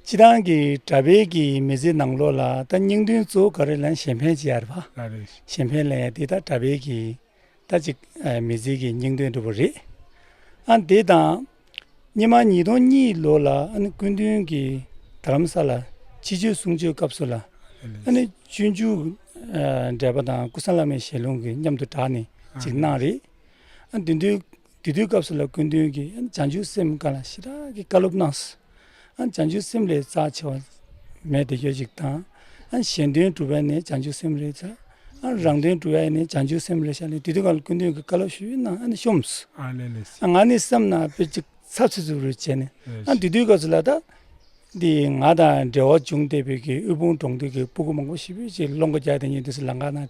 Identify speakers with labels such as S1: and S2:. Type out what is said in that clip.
S1: སྤྱི་བཏང་གི་དྲ་འབེལ་གྱི་མི་ཚེ་ནང་ལོགས་ལ་ད་སྙིང་དོན་གཙོ་བོ་ག་རེ་ལན་གཞན་ཕན་བྱེད་ཡ་རེད་བ། ག་རེ། གཞན་ཕན་ལན་ཡ་དེ་ད་དྲ་འབེལ་གྱི་ད་ཅིག་མི་ཚེ་གི་སྙིང་དོན་འགྲུབ་བ་རེད། ཨ་འདི་དང། ཉི་མ་ཉིས་སྟོང་གཉིས་ལོ་ལ་ཨ་ནི་སྐུ་མདུན་གྱི་དར་རམ་ས་ལ་ཕྱི་བཅོས་གསུང་ཆོས་སྐབས་སུ་ལ་ཨ་ནི་སྤྱོད་འཇུག་འགྲེལ་པ་དང་སྐུ་སངས་བླ་མའི་ཞལ་ལུང་གི་མཉམ་དུ་བསྒྲགས་ནས་ཅིག་གནང་རེད། ཨ་འདི་འདུལ་དེ་དུས་སྐབས་སུ་ལ་ཀུན་དོན་གྱི་བྱང་ཆུབ་སེམས་དཀའ་ལ་ཞེ་དྲག་གི་བཀའ་སློབ་གནང་སོང། བྱང་ཆུབ་སེམས་ལས་རྩ་ཆེ་བ་མེད་དེ་ཡོད་ཅིག་དང། གཞན་དོན་སྒྲུབ་པ་ནི་བྱང་ཆུབ་སེམས་ལས་རྩ། རང་དོན་སྒྲུབ་པ་ནི་བྱང་ཆུབ་སེམས་ལས་ཤར་ལས་དེ་དུས་ཀ་ལ་ཀུན་དོན་གྱི་བཀའ་སློབ་ཞུས་ན་ནི་ཤོམས་སོ། ང་ནི་སེམས་ནང་དཔེ་གཅིག་ཚབ་ཚུབ་ཚུབ་རེ་བྱས་ནས་དེ་དུས་སྐབས་སུ་ལ་དྭགས་འདི་ང་དང་འབྲེལ་བ་བྱུང་སྟེ་བོད་ཀྱི་དབུལ་ཕོངས་གྲོང་སྡེ་གི་སྤུ་གུ་མང་པོ་ཞིག་བོད་ཀྱི་སློབ་འགོ་རྒྱག་དེ་ཉིན་དུས་སུ་ལ་འགག་ནང